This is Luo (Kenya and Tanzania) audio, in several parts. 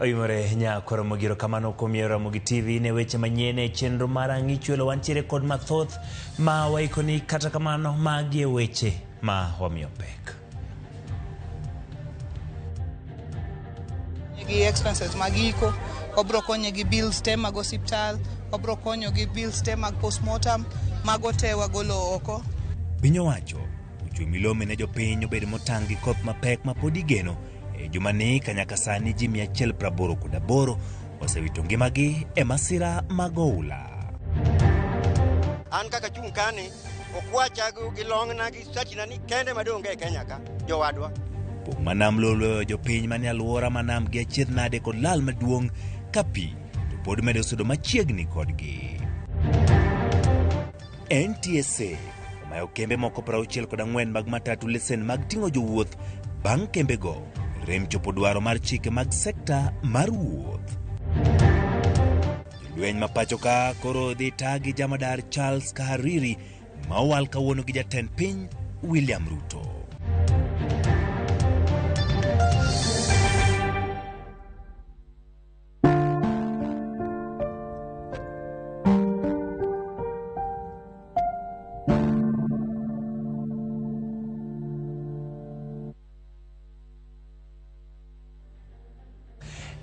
Oyumore nyako Ramogi erokamano kuom yiero Ramogi TV ne weche manyien e chenro mar Ang'ichwelo. Wantiere kod mathoth ma waikoni, kata kamano magi e weche ma wamiyo pek. gi expenses mag iko wabro konye gi bills te mag osiptal wabro konyo gi bills te mag postmortem mago te wagolo oko Piny owacho ochwe milome ne jopiny obed motang' gi koth mapek ma pod igeno E jumani kanyaka sani ji 188 osewito ngimagi e masira mag oula. An kaka chung' kani okwacha gi long'na gi sachina ni kende madonge e Kenya ka jowadwa. Pok ma nam loloyo jopiny manie alwora ma nam gi achiedh nade kod lal maduong' ka pi to pod medo sudo machiegni kodgi. NTSA omayo kembe moko 64 mag matatu lesen mag ting'o jowuoth bang' kembego rem chopo dwaro mar chike mag sekta mar wuoth. Jolweny ma pacho ka koro dhi ta gi jamadar Charles Kahariri ma owal kawuono gi jatend piny William Ruto.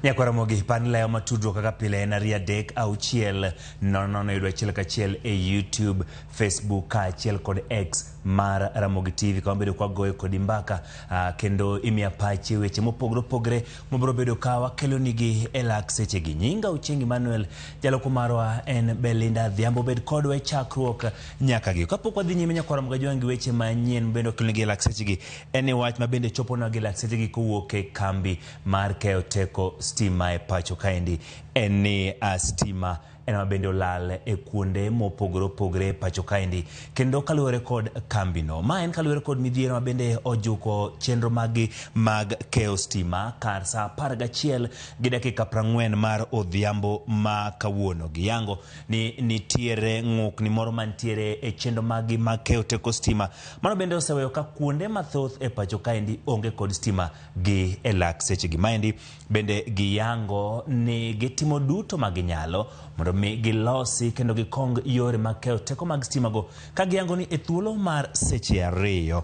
nyakwaramogi pan leyo matudruok kaka pile en ariyo adek auchiel nono nono yudo achiel kachiel e youtube facebook kaachiel kod x mar ramogi tv kama bedo kwagoyo kodi mbaka uh, kendo imiya pache weche mopogore opogore mobiro bedo ka wakelonigi e lak sechegi nyinga uchengi manuel jaloko marwa en belinda dhiambo bed kodwa e chakruok nyaka gi kapok wadhi nyime nyakwara mgajwang' gi weche manyien mabende wakelonigi e lak sechegi en e wach mabende choponwa gi lak sechegi kowuok e kambi mar keyo teko stima e pacho kaendi en ni uh, stima en ma bende olal e kuonde mopogore opogore e pacho kaendi kendo kaluwore kod kambino ma en kaluwore kod midhiero ma bende ojuko chenro maggi mag keyo stima kar saa apar gachiel gi dakika prang'wen mar odhiambo ma kawuono giyango ni nitiere ng'ukni moro mantiere e chenro maggi mag keyo teko stima mano bende oseweyo ka kuonde mathoth e pacho kaendi onge kod stima gi e lak sechegi maendi Bende giyango ni gitimo duto ma ginyalo mondo mi gilosi kendo gikong yore mag keyo teko mag stimago ka giyango ni e thuolo mar seche ariyo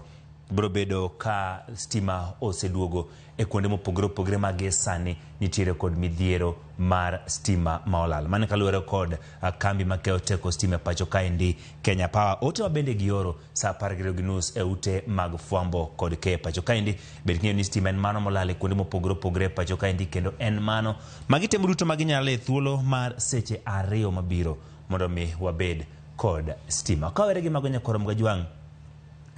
biro bedo ka stima oseduogo e kuonde mopogore opogore ma gie sani nitiere kod midhiero mar stima ma olal. Mano kaluwore kod kambi ma keyo teko stima e pacho kaendi Kenya Power. Ote ma bende gioro saa apar gariyo gi nus e ute mag fwambo kod keyo pacho kaendi bed king'eyo ni stima en mano molal e kuonde mopogore opogore e pacho kaendi kendo en mano ma gitemo duto ma ginyalo e thuolo mar seche ariyo mabiro mondo mi wabed kod stima kawere gi mago nyakoro mga jwang'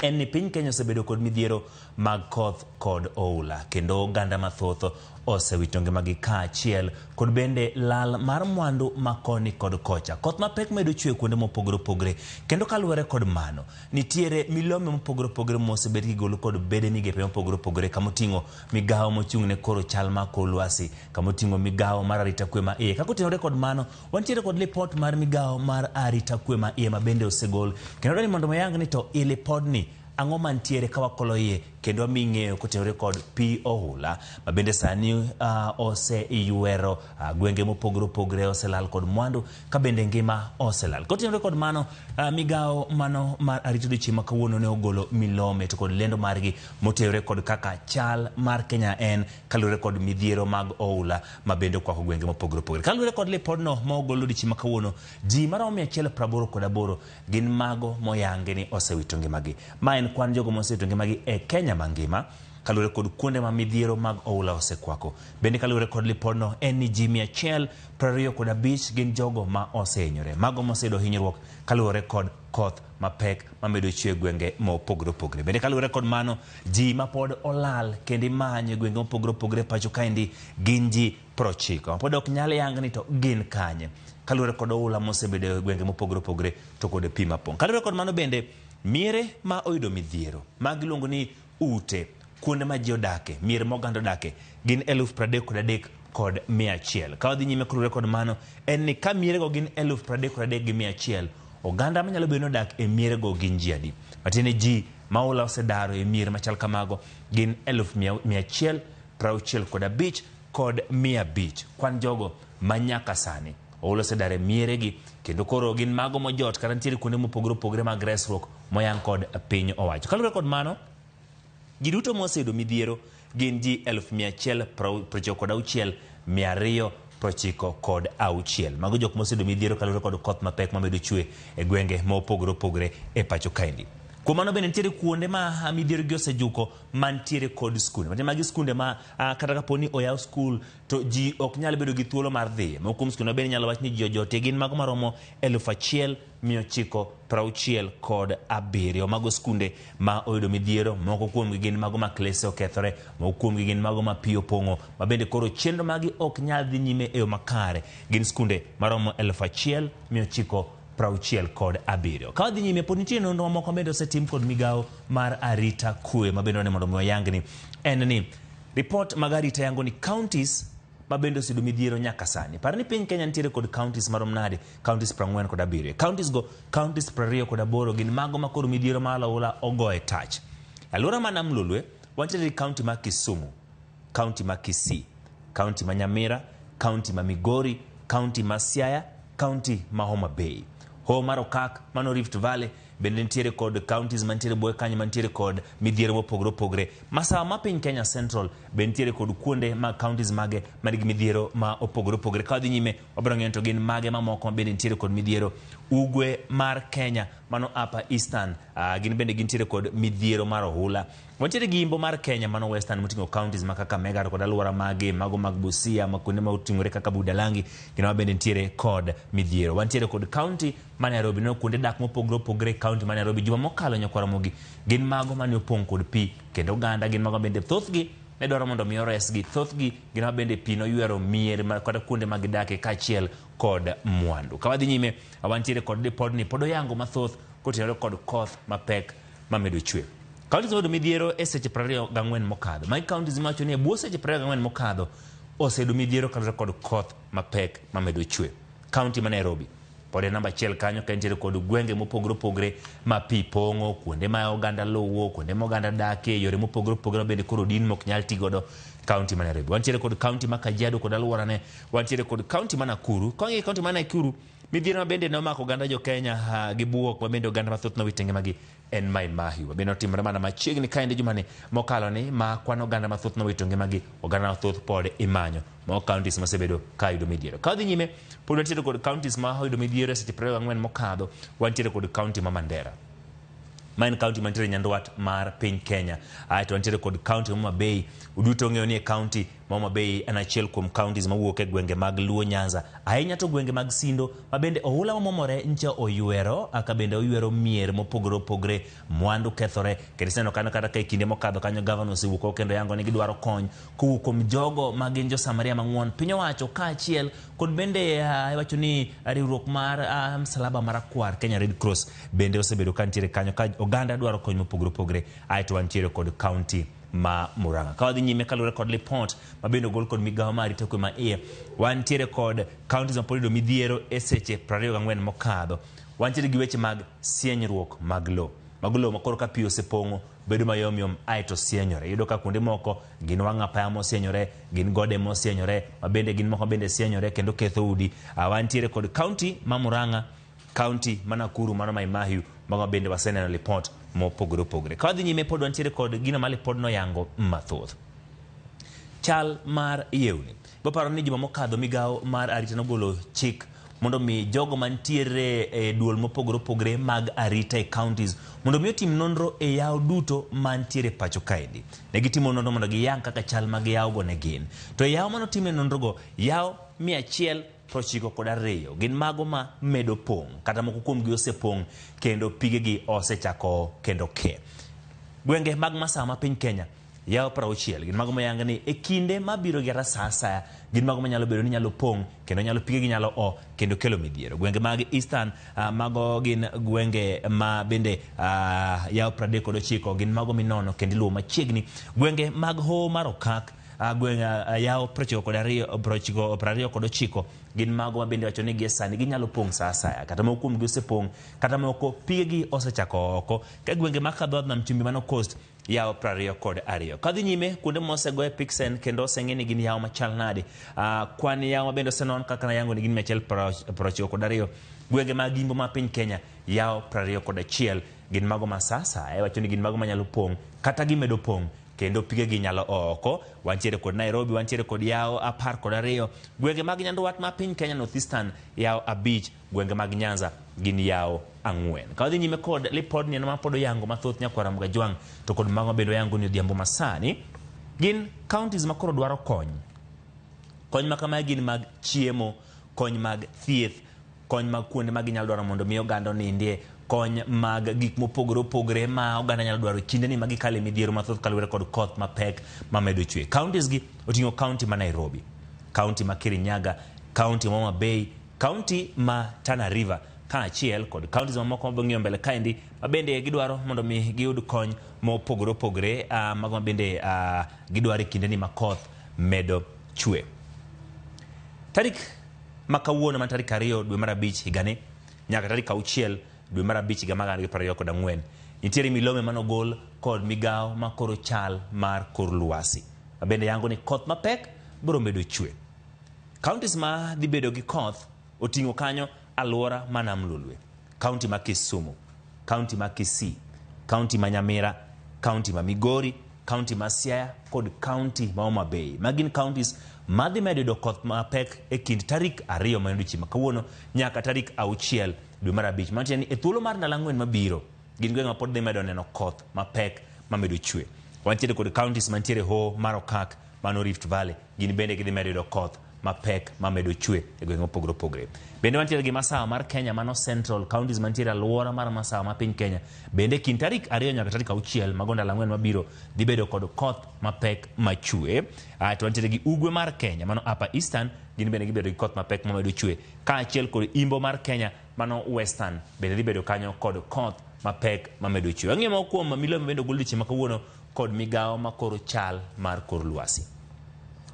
en ni piny kenya osebedo kod midhiero mag koth kod oula kendo oganda mathoth osewito ngimagi kaachiel kod bende lal mar mwandu makoni kod kocha. Koth mapek medo chwe kuonde mopogore opogore kendo kaluwore kod mano nitiere milome mopogore opogore mosebed kigolo kod bede migepe mopogore opogore kama oting'o migawo mochung' ne koro chal ma kor lwasi kama oting'o migawo mar arita kwe ma iye. Kaka otenore kod mano wantiere kod lipot mar migawo mar arita kwe ma iye ma bende osegol kendo dwani mondo wayang ni to i lipodni Ang'o mantiere ka wakolo iye kendo wami ng'eyo kotenore kod pi ohula ma bende sani uh, oseywero uh, gwenge mopogore opogore oselal kod mwandu ka bende ngima oselal kotenore kod mano uh, migawo mano mar arito dichieng' ma kawuono ne ogolo milome to kod lendo margi motenore kod kaka chal mar Kenya en kaluwore kod midhiero mag ohula ma bende okwako gwenge mopogore opogore kaluwore kod lipodno ma ogolo dichieng' ma kawuono ji maromo 188 gin mago moyangi ni osewito ngimagi. Ma en kwan jogo mosewito ngimagi e Kenya mangima kaluwore kod kuonde ma midhiero mag oula osekwako. Bende kaluwore kod lipodno en ni ji mia achiel piero ariyo kod abich gin jogo ma osehinyore. Mago moseyudo hinyruok kaluwore kod koth mapek mamedo chwe e gwenge mopogore opogore. Bende kaluwore kod mano, ji mapod olal kendo imanyo e gwenge mopogore opogore pacho kaendi gin ji prochiko pod ok nyal yang ni to gin kanye kaluwore kod oula mosebedo e gwenge mopogore opogore to kod pi mapong'. Kaluwore kod mano bende miere ma oyudo midhiero ma giluongo ni ute kuonde ma ji odake mier ma oganda odake gin eluf pradek kod adek kod mia achiel. Ka wadhi nyime kaluwore kod mano en ni ka mierego gin eluf pradek kod adek gi mia achiel oganda manyalo bedo ni odak e mierego gin ji adi matiende ji ma oula osedaro e mier machal kamago gin eluf mia achiel prauchiel kod abich kod mia abich. Kwan jogo ma nyaka sani oolo sedar e mieregi kendo koro gin mago mojot kata nitiere kuonde mopogore opogore mag resruok moyang kod piny owacho. Kaluwore kod mano, ji duto moseyudo midhiero gin ji elfu mia achiel prochiko kod auchiel mia ariyo prochiko kod auchiel. Mago jok moseyudo midhiero kaluwore kod koth mapek mamedo chwe e gwenge mopogore opogore e pacho kaendi. Kuom mano bende nitiere kuonde ma midhiero gi osejuko mantiere kod skunde matiende magi skunde ma ah, kata kapo ni oyaw skul to ji ok nyal bedo gi thuolo mar dhiye moko kuom skunde bende inyalo wach ni ji ojotie gin mago maromo eluf achiel mia ochiko prauchiel kod abiriyo mago skunde ma oyudo midhiero moko kuomgi gin mago ma klese okethore moko kuomgi gin mago ma pi opong'o ma bende koro chenro magi ok nyal dhi nyime e yo makare gin skunde maromo eluf achiel mia ochiko prauchiel kod abiriyo. Ka wadhi nyime, pod nitie nonro mamoko bende osetim kod migawo mar arita kwe ma bende wane mondo mi wayangni en ni ripot mag arita yango ni counties ma bende osedo midhiero nyaka sani. Par ni piny Kenya nitiere kod counties marom nade? Counties prang'wen kod abiriyo. Counties go, counties prariyo kod aboro gin mago ma koro midhiero mar alawula ogoye tach. Alwora ma nam lolwe, wantiere gi county ma Kisumu, kaunti ma Kisii, kaunti ma Nyamira, kaunti ma Migori, kaunti ma Siaya, kaunti ma Homa Bay. Hoho mar okak mano Rift Valley bende nitiere kod counties mantiere buoye kanyo mantiere kod midhiero mopogore opogore. Masawa ma piny Kenya Central be nitiere kod kuonde ma counties mage man gi midhiero ma opogore opogore. Ka wadhi nyime wabiro ng'eyo to gin mage mamoko mabende nitiere kod midhiero. Ugwe mar Kenya mano Upper Eastern uh, gin bende gintiere kod midhiero mar ohula. Wantiere gi yimbo mar Kenya mano Western moting'o counties ma Kakamega to kod alwora mage, mago mag Busia, ma kuonde ma oting'ore kaka Budalangi, kendo ma bende nitiere kod midhiero. Wantiere kod county ma Nairobi, no kuonde dak mopogre opogre county ma Nairobi. Juma mokalo nyakwaramogi gin mago mane opong' kod pi, kendo oganda gin mago bende thothgi ne dwaro mondo mi oresgi. Thothgi gin ma bende pi noywero mier ma- kata kuonde ma gidake kaachiel kod mwandu. Ka wadhi nyime, wantiere kod lipodni pod oyango mathoth kotenore kod koth mapek ma medo chwer. Kaunti osebedo midhiero e seche 24 mokadho. Magi kaunti ma wacho ni e bwo seche 24 mokadho osebedo midhiero kaluwore kod koth mapek ma medo chwer. Kaunti ma Nairobi pod e namba achiel kanyo ka entiere kod gwenge mopogore opogore ma pi pong'o, kuonde ma oganda luwo, kuonde ma oganda dakie, yore mopogore opogore ma bende koro din mok nyal ti godo kaunti ma Nairobi. Wantiere kod kaunti ma Kajiado kod alworane, wantiere kod kaunti ma Nakuru. Kawang'iyo kaunti ma Nakuru, Midhiero ma bende nomako oganda jo Kenya ah, gi buok ma bende oganda mathoth nowito ngimagi en Mai Mahiu. Ma bende otimore mana machiegni ka endi jumani mokalo ni ma kwan oganda mathoth nowito ngimagi. Oganda mathoth pod imanyo ma counties mosebedo ka yudo midhiero. Ka wadhi nyime, pod wantiere kod counties ma oyudo midhiero e seche 24 mokadho, wantiere kod county ma Mandera ma en kaunti mantiere nyandwat mar piny Kenya. Aeto wantiere kod kaunti ma Homa Bay. Uduto ung'eyo ni e kaunti Homa Bay en achiel kuom counties mawuok e gwenge mag Luo Nyanza, ahinya to gwenge mag Sindo, ma bende ohula mamomore ncha oywero, aka bende oywero mier mopogore opogre, mwandu kethore, kendo iseneno kanyo kata ka e kinde mokadho kanyo gavana osewuok oko kendo yango ni gidwaro kony kowuok kuom jogo ma gin jo Samaria mang'won, piny owacho kaachiel kod bende ah, iwacho ni riwruok mar ah, msalaba marakwar Kenya Red Cross bende osebedo kantiere kanyo ka oganda dwaro kony mopogore opogre, aeto wantiere kod county ma Murang'a. Ka wadhi nyime kaluwore kod lipot ma bende ogol kod migawo ma arita kwe ma iye, wantiere kod counties ma pod yudo midhiero e seche 24 mokadho. Wantiere gi weche mag sienyruok mag lowo. Mago lowo ma koro ka pi osepong'o bedo mayom yom aeto sienyore. Iyudo ka kuonde moko gin wang' apaya mosienyore, gin gode mosienyore, ma bende gin moko bende sienyore kendo ketho udi. Ah, wantiere kod county ma Murang'a County ma Nakuru mano Mai Mahiu mago bende waseneno lipot mopogore opogore. Ka wadhi nyime pod wantiere kod gino ma lipod noyango mathoth. Chal mar yewni. Baparo ni juma mokadho migawo mar arita nogolo chik mondo mi jogo mantiere e duol mopogore opogore mag arita e counties mondo mi otim nonro e yawo duto mantiere pacho kaendi. Ne gitimo nonro mondo giyang kaka chal mag yawogo ne gin. To e yawo manotimne nonrogo, yawo mia achiel to ochiko kod ariyo gin mago ma medo pong' kata moko kuomgi osepong' kendo pigegi osechako kendo ke. Gwenge mag masawa ma piny Kenya yawo prauchiel gin mago mayang ni e kinde mabiro gi sa asaya gin mago manyalo bedo ni nyalo pong' kendo nyalo pigegi nyalo o kendo kelo midhiero. Gwenge mag Eastern ah, mago gin gwenge ma bende ah, yawo pradek kod ochiko gin mago minono kendo iluwo machiegni. Gwenge mag hoho mar okak Ah, gweng' ah, ah, yawo prochiko kod ariyo prochiko prariyo kod ochiko gin mago ma bende wacho ni gie sani ginyalo pong' sa asaya kata moko kuomgi osepong' kata moko pigegi osechako oko ka gwenge ma kadho nam chumbi mano coast yawo prariyo kod ariyo kadhi nyime kuonde mosegoye pixen kendo oseng'e ni gin yawo machal nade Ah, kwan yawo ma bende osenon kaka nayango ni gin mia achiel pra- prochiko kod ariyo gwenge mag imbo ma piny kenya yawo prariyo kod achiel gin mago ma sa asaya iwacho ni gin mago manyalo pong' kata gimedo pong' kendo pigegi nyalo oo oko. Wantiere kod Nairobi, wantiere kod yawo apar kod ariyo. Gwenge mag nyandwat ma piny Kenya Northeastern yawo abich, gwenge mag Nyanza gin yawo ang'wen. Ka wadhi nyime kod lipod nieno mapod oyango mathoth nyakwara Mgajwang' to kod mago bende oyango ni odhiambo masani gin counties makoro dwaro kony. Kony makamae gin mag chiemo, kony mag thieth, kony mag kuonde ma ginyalo dwaro mondo mi oganda onindie, kony mag gik mopogore opogore ma oganda nyalo dwaro kinde ni ma gikale midhiero mathoth kaluwore kod koth mapek mamedo chwe. Counties gi oting'o county ma Nairobi, county ma Kirinyaga, county ma Homa Bay, county ma Tana River kaachiel kod counties mamoko mabiro ng'iyo mbele kaendi ma bende gidwaro mondo mi giyud kony mopogore opogore uh, mago ma bende uh, gidwaro e kinde ni ma koth medo chwe. Tarik ma kawuono ma tarik ariyo dwe mar abich higani nyaka tarik auchiel dwe mar abich higa mar gana ariyo gi piero ariyo kod ang'wen nitiere milome manogol kod migawo ma koro chal mar kor lwasi mabende yango ni koth mapek biro medo chwe. Counties ma dhi bedo gi koth Oting'o kanyo alwora ma Nam Lolwe, kaunti ma Kisumu, kaunti ma Kisii, kaunti ma Nyamira, kaunti ma Migori, kaunti ma Siaya kod kaunti ma Homa Bay. Magi gin kauntis ma dhi medo yudo koth mapek e kind tarik ariyo ma en odiechieng' ma kawuono nyaka tarik auchiel dwe mar abich. Mano tiende ni e thuolo mar ndalo ang'wen mabiro, gin gwenge ma pod dhi medo neno koth mapek mamedo chwe. Wantiere kod kauntis mantiere Hoho mar Okak, mano Rift Valley, gin bende gidhi medo yudo koth mapek mamedo chwe e gwenge mopogore opogore. Bende wantiere gi masawa mar Kenya mano central counties mantiere alwora mar masawa ma piny Kenya. Bende kind tarik ariyo nyaka tarik auchiel mago ndalo ang'wen mabiro dhi bedo kod koth mapek machwe. Ah, to wantiere gi ugwe mar Kenya mano upper eastern gin bende gibedo gi koth mapek mamedo chwe kaachiel kod imbo mar Kenya mano western bende dhi bedo kanyo kod koth mapek mamedo chwe. Ang'e moko kuom milome bende ogol dweche ma kawuono kod migawo makoro chal mar kor lwasi.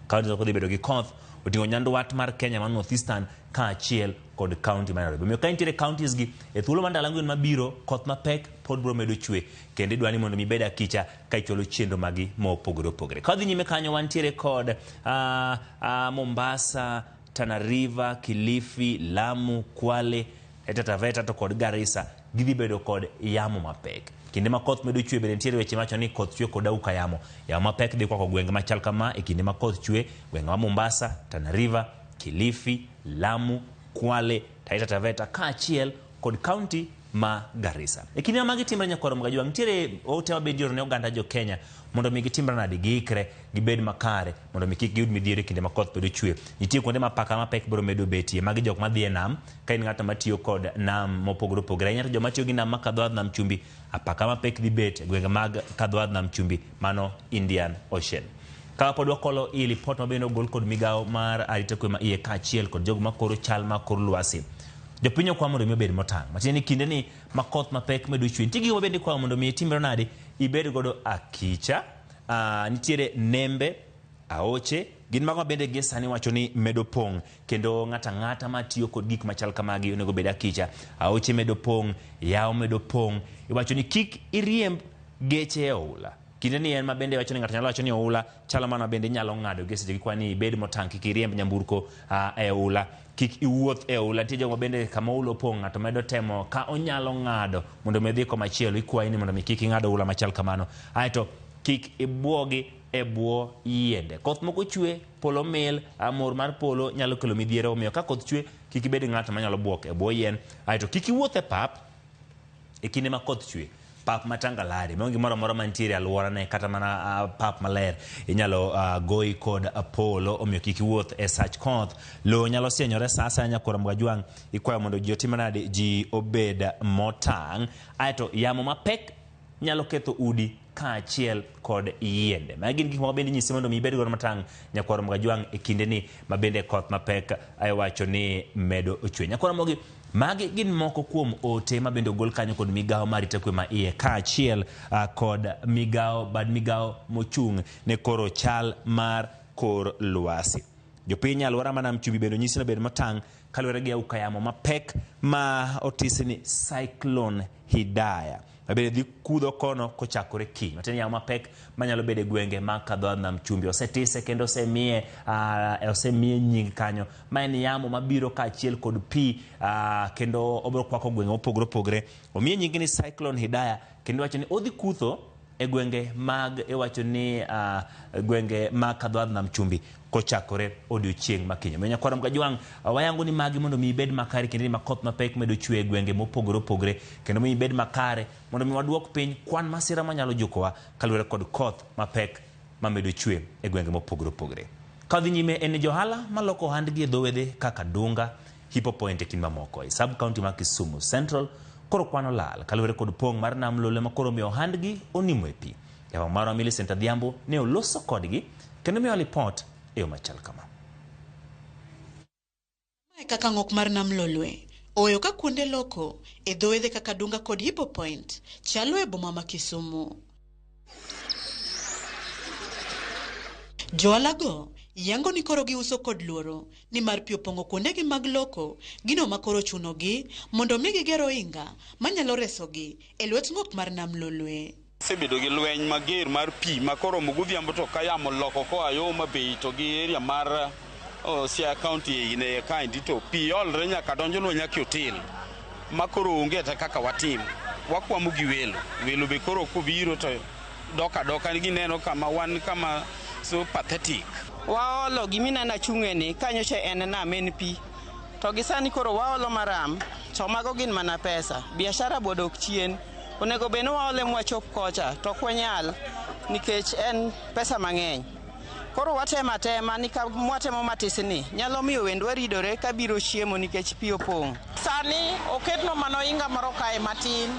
Kaunti no kodhi bedo gi koth oting'o nyandwat mar Kenya man northeastern kaachiel kod kaunti ma Nairobi. Omiyo ka intiere counties gi e thuolo mar ndalo ang'wen mabiro koth mapek pod biro medo chwe kendo idwani mondo mi ibed akicha ka ichwalo chenro magi mopogore opogore. Ka wadhi nyime kanyo wantiere kod ah, ah, Mombasa, Tana River, Kilifi, Lamu, Kwale, Taita Taveta to kod Garissa Gidhi bedo kod yamo mapek. Kinde ma koth medo chwe bende nitiere weche mawacho ni koth chwe kod auka yamo. Yamo mapek dhi kwako gwenge machal kama e kinde ma koth chwe, gwenge ma Mombasa, Tana River, Kilifi, Lamu, Kwale, Taita Taveta kaachiel kod kaunti ma Garissa. E kinde ma magi timre nyakwarom gajwang' nitiere ote ma bende ioro ne oganda jo Kenya mondo mi gitimre nadi giikre gibed makare mondo mi kik giyud midhiero e kinde ma koth bedo chwe. Nitie kuonde ma paka mapek biro medo betie magi jok madhi e nam Ka in ng'at matiyo kod nam mopogore opogore, ahinya to joma tiyo gi nam ma kadho nam chumbi, apaka mapek dhi bet e gwenge mag kadho nam chumbi, mano Indian Ocean. Ka pod wakolo i lipot mabende ogol kod migawo mar arita kwe ma iye kaachiel kod jogo makoro chal mar kor lwasi. Jopiny okwa mondo mi obed motang'. Matiende ni kinde ni ma koth mapek medo chwe, nitie gigo mabende ikwayo mondo mi itimre nade, ibed godo akicha. Ah, nitiere nembe, aoche, gin mago mabende gie sani wacho ni medo pong'. kendo ng'ato ang'ata ma tiyo kod gik machal kamagi onego bed akicha aoche medo pong' yawo medo pong' iwacho ni kik iriemb geche e oula kinde ni en ma bende wacho ni ng'ato nyalo wacho ni oula chalo mana bende inyalo ng'ado gi seche gi kwani ibed motang' kik iriemb nyamburko uh, e oula kik iwuoth e oula nitie jogo bende kama oula opong' ng'ato medo temo ka onyalo ng'ado mondo mi odhi komachielo ikwayi ni mondo mi kik ing'ad oula machal kamano aeto kik ibwogi e bwo yiende. Koth moko chwe, polo mil, ah, mor mar polo nyalo kelo midhiero. Omiyo ka koth chwe, kik ibed ng'at manyalo bwok e bwo yien. Aeto kik iwuoth e pap e kinde ma koth chwe pap ma tangalare maonge gimoro amora mantiere alworane kata mana ah, pap maler inyalo ah, goyi kod polo omiyo kik iwuoth e sach koth lowo nyalo sienyore sa asaya nyakora mgajwang' ikwayo mondo ji otim nade ji obed motang' aeto yamo mapek nyalo ketho udi kaachiel kod yiende. Magi gin gik moko bende inyisi mondo mi ibed godo matang' Nyakwar Ramogi Ajwang' e kindeni ma bende koth mapek iwacho ni medo ochwe. Nyakwar Ramogi, magi gin moko kuom ote ma bende ogol kanyo kod migawo ma arita kwe ma iye kaachiel ah, kod migawo bad migawo mochung' ne koro chal mar kor lwasi. Jopiny e alwora ma Nam Chumbi bende onyisi ni obed motang' kaluwore gi auka yamo mapek ma otisi ni cyclone hidaya mabende dhi kudho kono kochakore kiny matiende yamo mapek manyalo bedo e gwenge ma kadho adnam chumbi osetise kendo osemiye uh, osemiye nying kanyo ma en yamo mabiro kaachiel kod pi uh, kendo obiro kwako gwenge mopogore opogore omiye nying ni cyclone hidaya kendo wacho ni odhi kutho e gwenge mag iwacho ni uh, gwenge mag kadhoadh nam chumbi kochakore odiochieng' makinyo miyo nyakwaro mkajwang' uh, wayango ni magi mondo mi ibed makare kendo ni makoth mapek medo chwe e gwenge mopogore opogore kendo mi ibed makare mondo mi waduok piny kwan masira manyalo jukowa kaluwore kod koth mapek mamedo chwe e gwenge mopogore opogore kadhi nyime en ni johala maloko ohandgi e dho wedhe kaka dunga Hipo Point e kind mamoko e sub county ma Kisumu Central koro kwano lal kaluwore kod pong' mar nam lolwe ma koro omiyo ohandgi onimo e pi. Jawang' marwa Millicent Adhiambo ne oloso kodgi kendo miyowa lipot e yo machal kama. Ma e kaka ng'ok mar nam lolwe oweyo ka kuonde loko e dho wedhe kaka Dunga kod Hipo Point chalo e boma ma Kisumu. Joalago yango ni koro giuso kod luoro nimar pi opong'o kuondegi mag loko gino ma koro chunogi mondo mi giger ohinga manyalo resogi e lwet ng'ok mar nam Lolwe. Sebedo gi lweny mager mar pi ma koromo godhiambo to ka yamo loko koa yo Homa Bay to gi area mar Oh, Siaya County in a kind to pi olre nyaka donjonwa nyaka otel ma koro onge ta kaka watim wakwamo gi welo welo be koro kobiro to dok adoka gineno kama wan kama so pathetic waolo gimineno achung'eni kanyocha en nam en pi to gi sani koro waolo maram to mago gin mana pesa biashara bodok chien onego bed ni waole mwachop kocha to ok wanyal nikech en pesa mang'eny Koro watemo atema ni ka mwatemo matisni nyalo miyo wendwa ridore ka biro chiemo nikech pi opong'. Sani oketno mano inga moro kae matin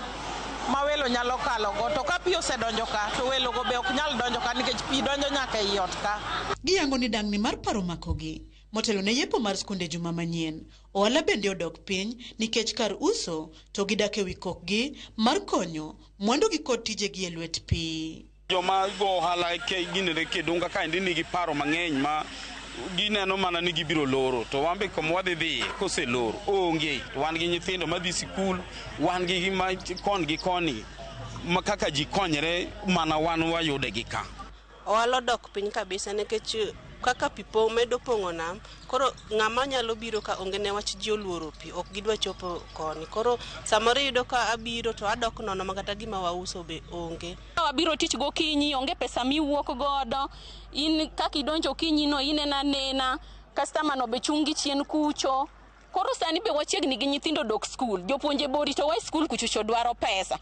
ma welo nyalo kalogo to ka pi osedonjo ka to welogo be ok nyal donjo ka nikech pi donjo nyaka ei ot ka. Giyango ni dang'ni mar paro omakogi. Motelo ne yepo mar skunde juma manyien, ohala bende odok piny nikech kar uso to gidak e wi kokgi mar konyo mwandugi kod tijegi e lwet pi. Joma go ohala ginere kedonga kaendi nigi paro mang'eny ma gineno mana ni gibiro loro to wan be kama wadhi dhiye koselor onge to wan gi nyithindo madhi sikul wan gi ma kon gi koni ma kaka ji konyre mana wan wayude gi ka ohala odok piny kabisa nikech kaka pi po- medo pong'o nam koro ng'ama nyalo biro ka onge ne wach ji oluoro pi ok gidwa chopo koni koro samoro iyudo ka abiro to adok nono ma kata gima wauso be onge wabiro tich gokinyi onge pesa miwuok godo in kaka idonjo okinyi no ineno anena kastama no be chungi chien kucho koro sani be wachiegni gi nyithindo dok skul jopuonje be oritowa e skul kuchocho dwaro pesa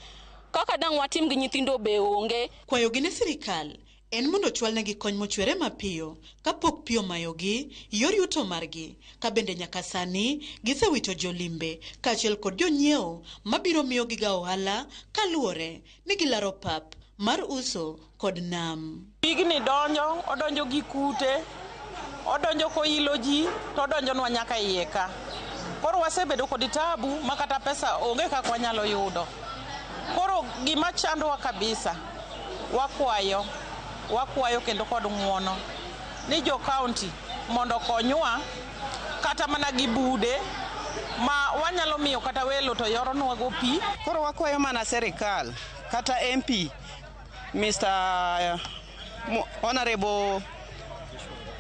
kaka dang' watim gi nyithindo be onge Kwayogi ne sirkal en mondo ochwalnegi kony mochwere mapiyo kapok pi omayogi yor yuto margi ka bende nyaka sani gisewito jolimbe kaachiel kod jonyiewo mabiro miyogiga ohala kaluwore mi gilaro pap mar uso kod nam. Pigni donjo, odonjo gi kute, odonjo koilo ji, to odonjonwa nyaka iye ka. Koro wasebedo kod tabu ma kata pesa onge kaka wanyalo yudo. Koro gima chandowa kabisa, wakwayo, wakwayo kendo kod ng'wono ni jo kaonti mondo okonywa. kata mana gi bude ma wanyalo miyo kata welo to yoronwago pi. Koro wakwayo mana serikal kata MP Mr. Mo- Honorable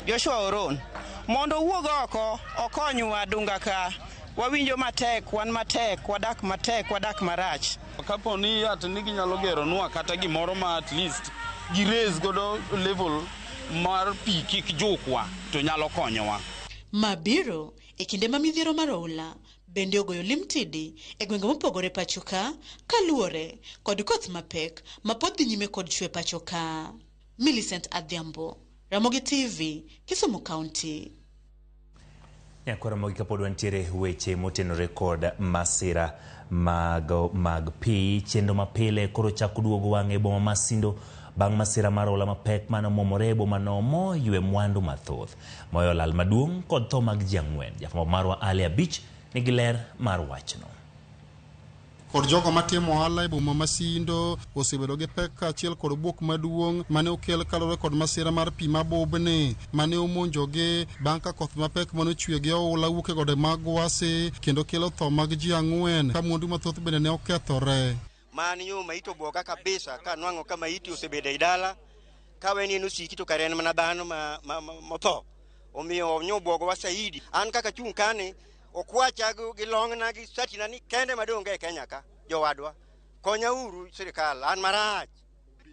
Joshua Oron mondo owuog oko okonywa Dunga ka wawinjo matek, wan matek, wadak matek, wadak marach. Kapo ni at ni ginyalo geronwa kata gimoro ma at least gi raise godo level mar pi kik jukwa to nyalo konyowa. Ma biro e kinde ma midhiero mar oula bende ogoyo limtidi e gwenge mopogore pacho ka kaluwore kod koth mapek ma pod dhi nyime kod chwe pacho ka. Millicent Adhiambo, Ramogi TV, Kisumu County. Nyakoro mogi kapod wantiere weche motenore kod masira mag, mag pi chenro mapile koro chako duogo wang'e boma ma Sindo bang' masira mar ola mapek mane omomore e bomano moywe mwandu mathoth moyo lal maduong' kod tho mag ji ang'wen. Jafwambo marwa Ali Abich nigi ler mar wachno. kod jogo matimo ohala e boma ma Sindo osebedo gi pek kaachiel kod buok maduong' mane okel kaluwore kod masira mar pi mabubni mane omonjogi bang' ka koth mapek mane ochwe gi oula wuok e gode mag Gwasi kendo kelo tho mag ji ang'wen ka mwandu mathoth bende ne okethore. Man yo maiti obwoga kabisa ka nwang'o ka maiti osebedo ei dala ka weni en osiki to kare en mana dhano ma, ma, ma, motho omiyo nyo obwogowa saidi an kaka chung' kani Okwacha gi gi long'na gi satina ni kende madonge e Kenya ka jowadwa. Konya uru sirikal an marach.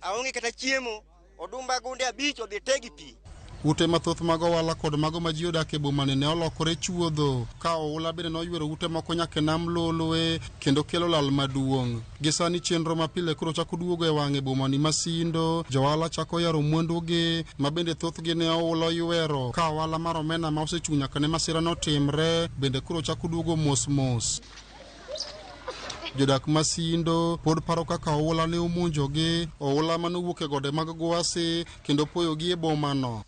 Aonge kata chiemo. Odumba gunde abich odhi te gi pi. Ute mathoth mag ohala kod mago ma ji odak e bomani ne olokore chuodho, ka oula bende noyuero ute moko nyaka e nam Lolwe kendo kelo lal maduong'. Gi sani chenro ma pile koro chako duogo e wang'e bomani ma Sindo. Johala chako yaro mwandugi ma bende thothgi ne oula oywero. Ka ohala mar omena ma osechung' nyaka ne masira no timre bende koro chako duogo mos mos. Jodak ma Sindo pod paro kaka oula ne omonjogi, oula mane owuok e gode mag Gwasi kendo poyogi e bomano.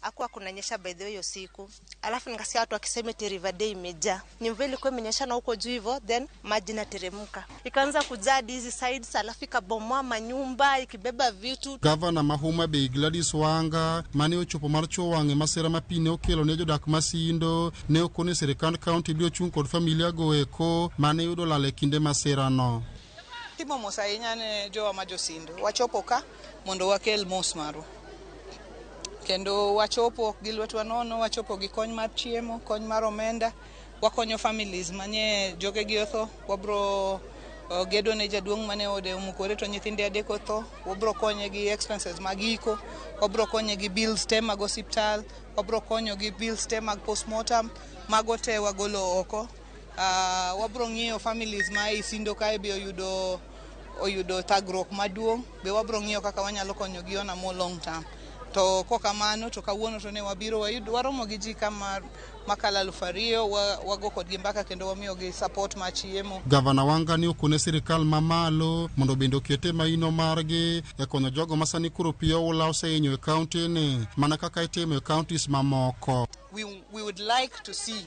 alafu nikasikia watu wakisema eti River Day imejaa. Ni mvua ilikuwa imenyeshana huko juu hivyo, then maji inateremka ikaanza kujaa hadi hizi sides, alafu ikabomoa manyumba ikibeba vitu. Gavana ma Homa Bay Gladys Wanga mane ochopo mar chuo wang'e masira ma pi ne okelo ne jodak Masindo ne okone sirikand kaunti biro chung' kod familia go eko mane yudo lal e kinde masirano. Timo mos ahinya ne jowa ma josindu. Wachopo ka mondo wakel mos marwa. Kendo wachopo ok gi lwetwa nono, wachopo gi kony mar chiemo, kony mar omenda, wakonyo families manye jogegi otho, wabro uh, gedo ne jaduong' mane ode omukore to nyithinde adek otho, wabro konye gi expenses mag iko, wabro konye gi bills te mag osiptal, wabro konyo gi bills te mag postmortem, mago te wagolo oko. Uh, wabro ng'iyo families ma ei Sindo kae be oyudo oyudo thagruok maduong' be wabro ng'iyo kaka wanyalo konyogi on a more long term to kokamano to kawuono to ne wabiro wayud waromo gi ji kama makalo alufu ariyo wa- wago kodgi mbaka kendo wamiyogi support mar chiemo Gavana Wanga ne okone sirkal mamalo mondo bende okete maino margi e konyo jogo ma sani koro pi oula osehinyo e kauntini mana kaka itimo e kauntis mamoko. we, we would like to see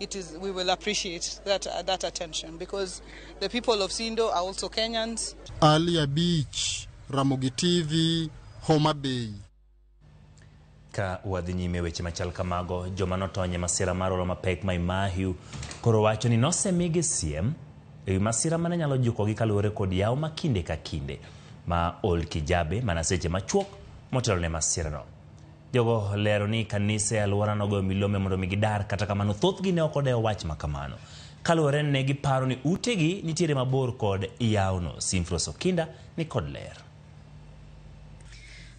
it is we will appreciate that uh, that attention because the people of Sindo are also Kenyans. Alia Beach, Ramogi TV, Homa Bay. Ka wadhi nyime weche machal kamago, joma notony e masira mar olo mapek ma Imahiu koro wacho ni nosemigi siem e wi masira mane nyalo jukogi kaluwore kod yawo ma kinde ka kinde ma ol kijabe mana seche machuok motelo ne masirano. Jogo lero ni kanise e alwora nogoyo milome mondo mi gidar, kata kamano thothgi ne ok odewo wach ma kamano. Kaluwore ni ne giparo ni utegi nitiere mabor kod yawono. Simfros Okinda ni kod ler.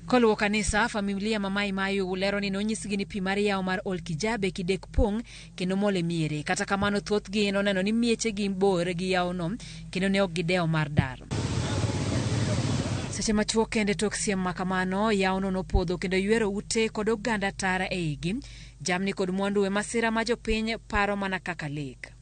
Koluwo kanisa, familia ma Mai Mayu lero ni nonyisgi ni pi mar yawo mar Olkijabe, Kidek Pong, kendo mol e miere. Kata kamano, thothgi noneno ni miechegi bor gi yawono kendo ne ok gidewo mar dar. Seche machuok kende tok siem ma kamano, yawono nopodho kendo ywero ute kod oganda tara e igi, jamni kod mwandu e masira ma jopiny paro mana kaka lek.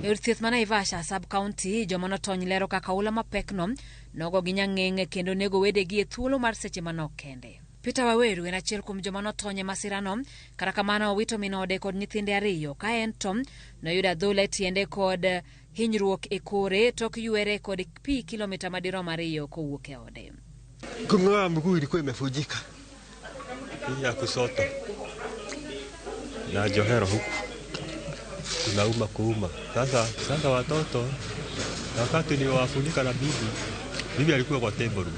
E od thieth ma Naivasha sub-county, joma notony lero kaka oula mapekno nogogi nyang'eng' kendo nego wedegi e thuolo mar seche manok kende. Peter Waweru en achiel kuom joma notony e masirano, kata kamano owito min ode kod nyithinde ariyo ka en to noyudo adhola e tiende kod hinyruok e kore tok ywere kod pi kilomita madirom ariyo kowuok e ode. Kung'oa mguu ilikuwa imevunjika hii ya kushoto na johero huku kunauma kuuma. Sasa sasa watoto wakati niliwafunika na bibi, bibi alikuwa kwa table room.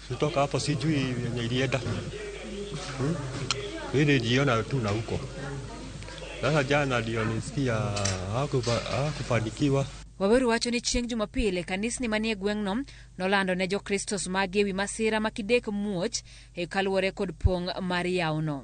Kutoka hapo sijui yenye ilienda hmm? Mimi nilijiona tu na huko sasa. Jana ndio nisikia hakufanikiwa. Waweru wacho ni chieng' Jumapil e kanisni manie gweng'no nolando ne Jokristo sumagi e wi masira ma kidek muoch e kaluwore kod pong' mar yawno.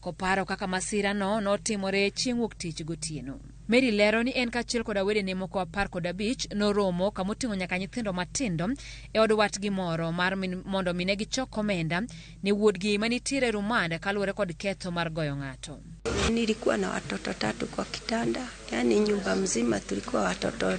Koparo kaka masirano notimore chieng' wuok tich gotieno. Mary lero ni en kaachiel koda wedene moko apar kod abich noromo kamoting'o nyaka nyithindo matindo e od watgi moro mar min, mondo mine gichok omenda ne wuodgi manitiere rumand kaluwore kod ketho mar goyo ng'ato. Nilikuwa na watoto tatu kwa kitanda, yani nyumba mzima tulikuwa watoto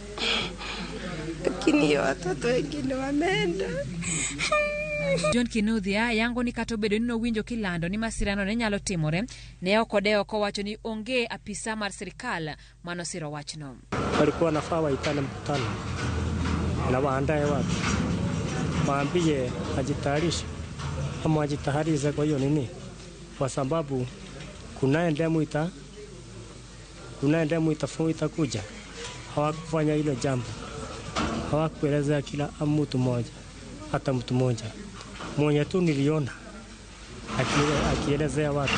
lakini hiyo watoto wengine wameenda. John Kinuthia yango ni kata obedo ni nowinjo kilando ni masirano ne nyalo timore, ne ok odewo kowacho ni onge apisa mar sirkal manosiro wachno. walikuwa wanafaa waitane mkutano na waandae watu, waambie ajitayarishe ama wajitaharize kwa hiyo nini, kwa sababu kunaye ndemu ita Kuna damu itafu- itakuja. Hawakufanya hilo jambo, hawakuelezea kila mtu mmoja, hata mtu mmoja mwenye tu niliona aki- akielezea watu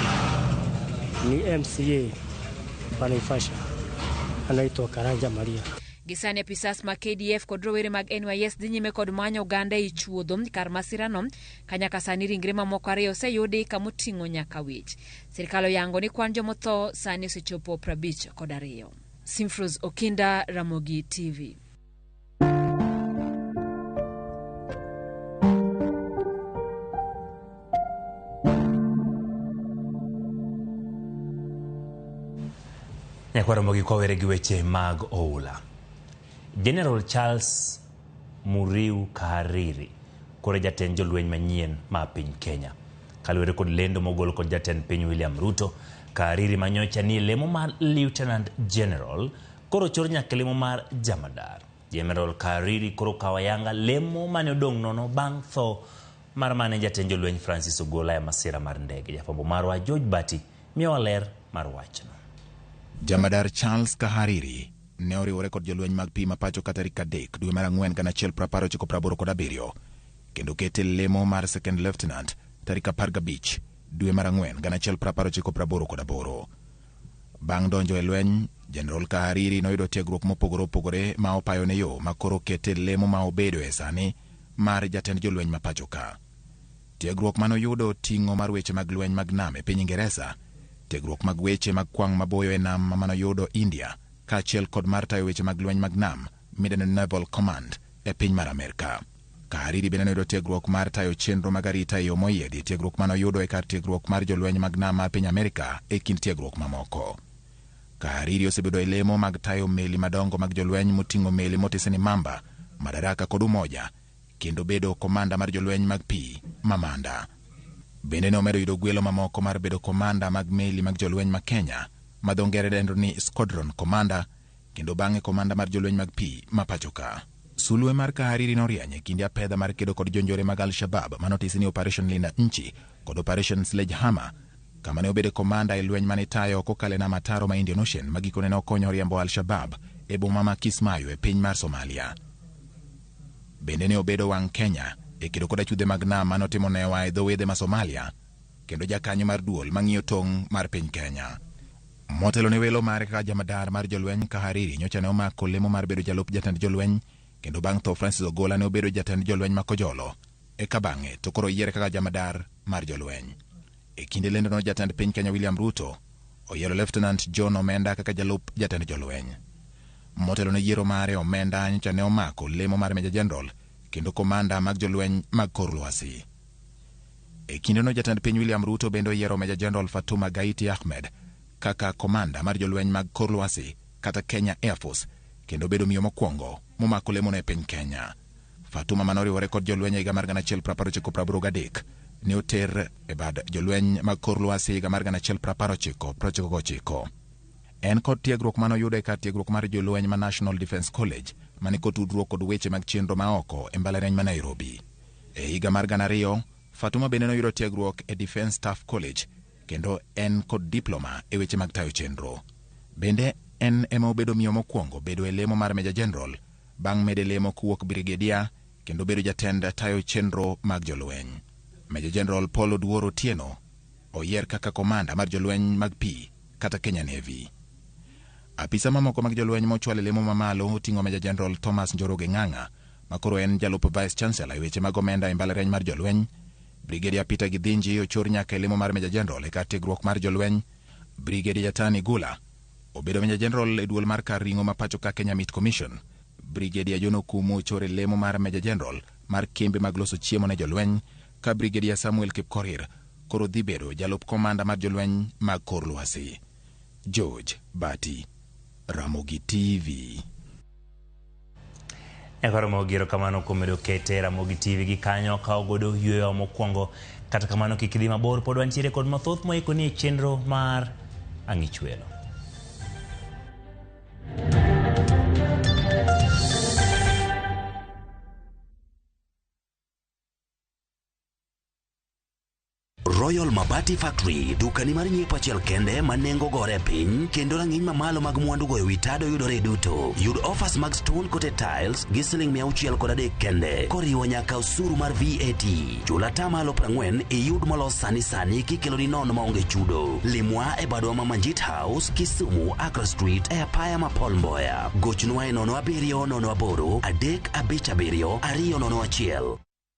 ni MCA wa Naivasha anaitwa Karanja Maria. Gisani apisas mag KDF kod rowere mag NYS dhi nyime kod manyo oganda e chuodho kar masirano ka nyaka sani ringre mamoko ariyo oseyudi kamoting'o nyaka wich. Sirkal oyango ni kwan jomotho sani osechopo 50 kod ariyo. Simfrus Okinda, Ramogi TV. nyakwaro mogi kwawere gi weche mag oula general charles Muriu Kahariri koro e jatend jolweny manyien ma piny Kenya. Kaluwore kod lendo mogol kod jatend piny William Ruto, Kahariri manyocha ni e lemo mar Lieutenant General koro ochor nyaka e lemo mar Jamadar. Jeneral Kahariri koro okawo ayanga lemo mane odong' nono bang' tho mar mane jatend jolweny Francis Ogola e masira mar ndege. Jafwambo marwa George Bati miyowa ler mar wachno. Jamadar Charles Kahariri ne oriwore kod jolweny mag pi ma pachoka tarik adek dwe mar ang'wen gana achiel prapar ochiko praboro kod abiriyo kendo kete lemo mar second lieutenant tarik apar gabich dwe mar ang'wen gana achiel prapar ochiko praboro kod aboro bang' donjo e lweny jeneral kahariri noyudo tiegruok mopogore opogore ma opayo ne yo ma koro kete lemo ma obedo e sani mar jatend jolweny ma pachoka Tiegruok ma noyudo oting'o mar weche mag lweny mag nam e piny Ingeresa, tiegruok mag weche mag kwang' maboyo e nam ma noyudo India, kaachiel kod mar tayo weche mag lweny mag nam midendo ni Naval Command e piny mar Amerka. Kahariri bende noyudo tiegruok mar tayo chenro mag arita e yo moyiedhi e tiegruok ma noyudo e kar tiegruok mar jolweny mag nam mar piny Amerka e kind tiegruok mamoko. Kahariri osebedo e lemo mag tayo meli madongo mag jolweny moting'o meli motisi ni Mamba, Madaraka kod Umoja kendo bedo komanda mar jolweny mag pi ma Manda. Bende ne omedo yudo gwelo mamoko mar bedo komanda mag meli mag jolweny ma Kenya ma dho ngere dendo ni Squadron Commander kendo bang'e komanda mar jolweny mag pi ma pachoka. Sulwe mar Kahariri norieny e kinde apedha mar kedo kod jonjore mag Al-Shabab ma notisi ni Operation Linda Nchi kod Operation Sledgehammer kama ne obedo komanda e lweny mane itayo kokalo e nam ataro ma Indian Ocean ma gikone ne okonyo riembo Al-Shabab e boma ma Kismayo e piny mar Somalia. Bende ne obedo wang' Kenya e kedo kod achudhe mag nam mane otimo newa e dho wedhe ma Somalia kendo jakanyo mar duol mang'iyo tong' mar piny Kenya. Motelo ne welo mare kaka jamadar mar jolweny ka Hariri nyocha ne omako lemo mar bedo jalup jatend jolweny kendo bang' tho Francis Ogola ne obedo jatend jolweny ma Kojolo Eka bang'e to koro oyiere kaka jamadar mar jolweny. E kinde lendono jatend piny Kenya William Ruto oyiero Lieutenant John Omenda kaka jalup jatend jolweny. Motelo ne yiero mare, Omenda nyocha ne omako lemo mar Meja Jeneral kendo komanda mag jolweny mag kor lwasi. E kindeno jatend piny William Ruto bende oyiero Meja Jeneral Fatuma Gaiti Ahmed kaka komanda mar jolweny mag kor lwasi kata Kenya Air Force kendo obedo miyo mokwongo momako lemono e piny Kenya. Fatuma ma noriwore kod jolweny e higa mar 1883 ne oter e bad jolweny mag kor lwasi e higa mar 1999. En kod tiegruok ma noyudo e kar tiegruok mar jolweny ma National Defence College ma ni kotudruok kod weche mag chenro ma oko e mbalariany ma Nairobi. E higa mar 2000, Fatuma bende noyudo tiegruok e Defence Staff College kendo en kod diploma e weche mag tayo chenro. Bende en ema obedo miyo mokwongo bedo e lemo mar Major General Bang' mede lemo kowuok Brigedia kendo bedo jatend tayo chenro mag jolweny, Meja Jeneral Paul Oduor Otieno oyier kaka Komanda mar jolweny mag pi kata Kenya Navy. Apisa mamoko mag jolweny mochwal e lemo mamalo oting'o Meja Jeneral Thomas Njoroge Ng'ang'a ma koro en jalup Vice Chancellor e weche mag omenda e mbalariany mar jolweny, Brigedia Peter Githinji ochor nyaka e lemo mar Meja Jeneral e kar tiegruok mar jolweny, Brigedia Jatan Igula, Obedo meja jeneral e duol mar kar ring'o ma pacho ka Kenya Meat Commission, Brigedia John Okumu ochor e lemo mar meja jeneral mar kembe mag loso chiemo ne jolweny ka Brigedia Samuel Kipkorir koro dhi bedo jalup komanda mar jolweny mag kor lwasi. George Bati, Ramogi TV. Nyaka romo gi erokamano kuom medo kete e Ramogi TV gi kanyo kawo godo yueyowa mokwongo. Kata kamano kik idhi mabor pod wantiere kod mathoth moiko ni e chenro mar Ang'ichwelo. Royal Mabati Factory, dukani mar nyiepo achiel kende ma nengo gore piny kendo rang'iny mamalo mag mwandugo e wi tado yudore duto. Yud offers mag stone coated tiles gi siling mia auchiel kod adek kende, koriwo nyaka osuru mar VAT. Chul ata malo prang'wen iyud molos sani sani kikeloni nono maonge chudo. Limwa e badwa ma Manjit House, Kisumu, Accra Street, e apaya ma Paul Mboya. Gochnwa e nono abiriyo nono aboro adek abich abiriyo ariyo nono achiel.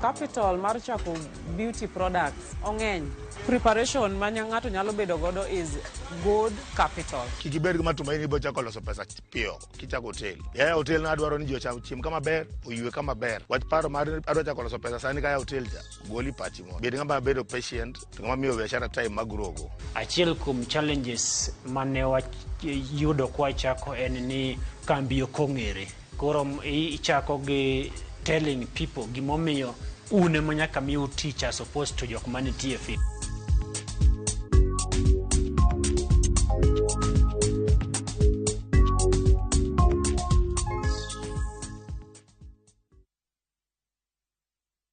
Capital mar chako beauty products ong'eny. Preparation ma nya- ng'ato nyalo bedo godo is good capital. kik ibed gi matumaini ibiro chako loso pesa piyo kichako hotel yaya hotel no adwaro ni ji ocham chiem kama ber oywe kama ber wach paro mar adwa chako loso pesa sani kaya hotel cha goli pachi mo bed ng'ama bedo patient to ng'ama miyo biashara time magrogo achiel kuom challenges mane wayudo kwachako en ni kambi ok ong'ere koro i- ichako gi telling people gimomiyo un ema nyaka mi utich as opposed to jok manitie fi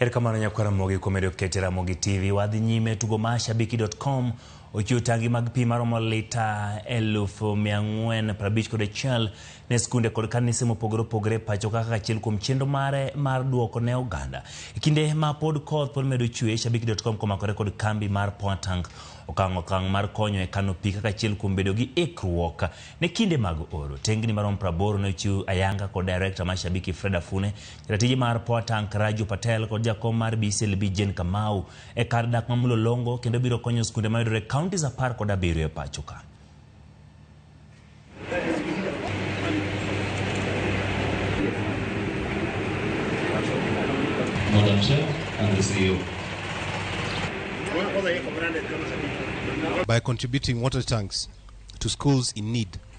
Erokamano nyakwar Ramogi kuom medo kete Ramogi TV. Wadhi nyime tugo ma shabiki.com ochiwo tangi mag pi maromo lita elufu mia ang'wen prabich kod achiel ne skunde kod kanise mopogore opogore pacho kaka achiel kuom chenro mare mar duoko ne oganda. E kinde ma pod koth pod medo chwe, shabiki.com komakore kod kambi mar Powertank okang' okang' mar konyo e kano pi kaka achiel kuom bedo gi ikruok ne kinde mag oro. Tengni maromo praboro ne ochiw ayanga kod direkta mar Shabiki Fred Afune Ratiji mar Poa Tank Raju Patel kod jakom mar BCLB Jane Kamau e kar dak ma Mlolongo kendo biro konyo skunde mayudore e counties apar kod abiriyo e pacho ka. Madam Chair and the CEO. by contributing water tanks to schools in need.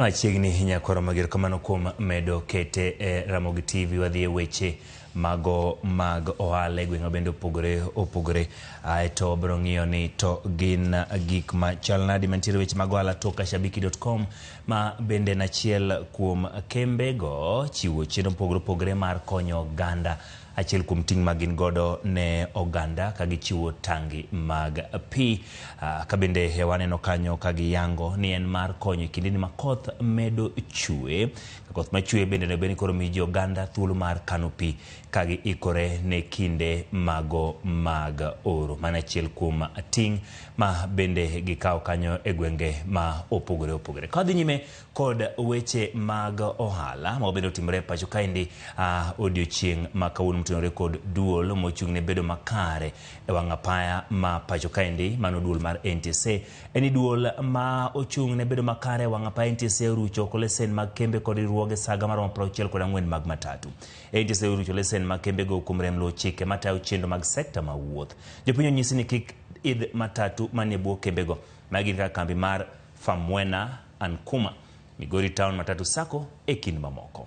Machiegni nyakoro mager kamano kuom medo kete e Ramogi TV wadhi e weche mago mag ohala e gweng'wa bende opogore opogore ae to wabiro ng'iyo ni to gin gik ma chal nadi mantiere weche mag ohala toka shabiki.com ma bende en achiel kuom kembego chiwo chenro mopogore opogore mar konyo oganda Achiel kuom ting' ma gin godo ne oganda ka gichiwo tangi mag pi ah, ka bende e waneno kanyo ka giyango ni en mar konyo e kindeni ma koth medo chue. Ka koth ma chue bende onego bed ni koro miyo ji oganda thuolo mar kano pi ka giikore ne kinde mago mag oro. Mano achiel kuom ting' ma bende gikawo kanyo e gwenge ma opogore opogore. Ka wadhi nyime kod weche mag ohala ma obende otimore e pacho kaendi uh, odiochieng' ma kawuono motenore kod duol mochung' ne bedo makare e wang' apaya ma pacho kaendi mano duol mar NTSA en ni duol ma ochung' ne bedo makare e wang' apaya NTSA orucho oko lesen mag kembe kod riwruoge saga maromo 64 kod ang'wen mag matatu NTSA orucho lesen mag kembego kuom rem luwo chike matayo chenro mag sekta ma wuoth jopiny onyisi ni kik idh matatu manie bwo kembego ma gin kaka kambi mar Famwena Ankuma, Migori Town Matatu Sacco e kind mamoko.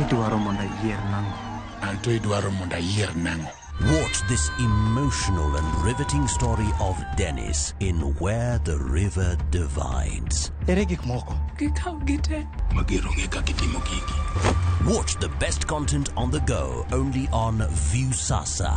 Idwaro mondo ayier nang'o? Anto idwaro mondo ayier nang'o? Watch this emotional and riveting story of Dennis in Where the River Divides. Ere gik moko? Gikaw gite. Magero ng'e kaka itimo gigi. Watch the best content on the go only on Viusasa.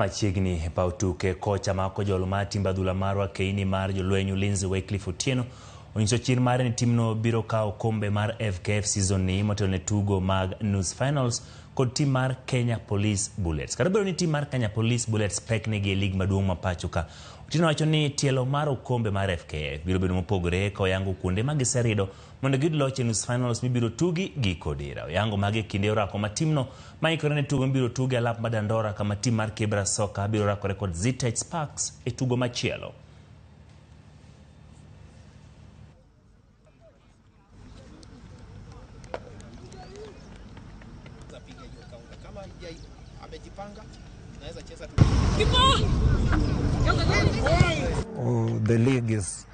Machiegni e paw tuke, kocha ma kojolo mar timb adhula marwa keini mar jolweny Ulinzi Wycliffe Otieno onyiso chir mare ni timno biro kawo kombe mar FKF season ni motelo ne tugo mag nus finals kod tim mar Kenya Police Bullets. Kata bedo ni tim mar Kenya Police Bullets pek negi e lig maduong' ma pachoka, Otieno wacho ni tielo mar okombe mar FKF biro bedo mopogore ka oyango kuonde ma giserido mondo giyud loch e nus finals mibiro tugi giko dira. Oyango mage e kinde orako ma timno maikore ne tugo mibiro tugi alap ma Dandora kama tim mar Kibra Soka biro rakore kod Zitech Sparks e tugo machielo. Oh, the league is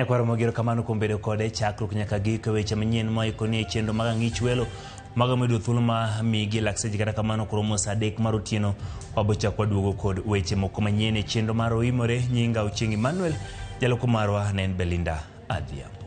E kwaro mogero kamano kuom bedo kode chakruok nyaka giko weche manyien ma ikoni e chenro mag ang'ich welo mago medo thuolo ma migi lakseche kata kamano koro mos adek mar otieno wabochak waduogo kod weche moko manyien e chenro mar oimore nyinga ochieng emmanuel jaloko marwa ne en belinda adhiambo